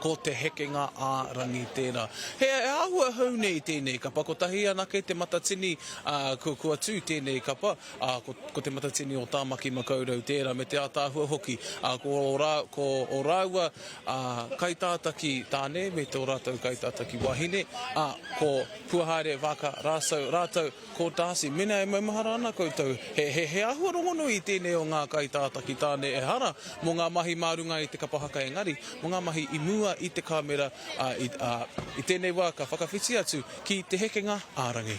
Ko te hekenga ā-rangi tērā. He āhua hou nei tēnei kapa. Kotahi anake te matatini kua tū tēnei kapa. Ko te matatini o Tāmaki Makaurau tērā me te ātaahua hoki. Ko ō rāua kaitātaki tāne me tō rātou kaitātaki wāhine, ko Puahaere Vaaka Rāsau rātou. Ko Darcy, Mena e maumahara ana koutou, he, he āhua rongonui i tēnei o ngā kaitātaki tāne ehara mō ngā mahi mā runga i te kapa haka engari, mō ngā mahi i mua i te kāmera, ā, i, ā, i tēnei wā ka whakawhiti atu ki te hekenga ā-rangi.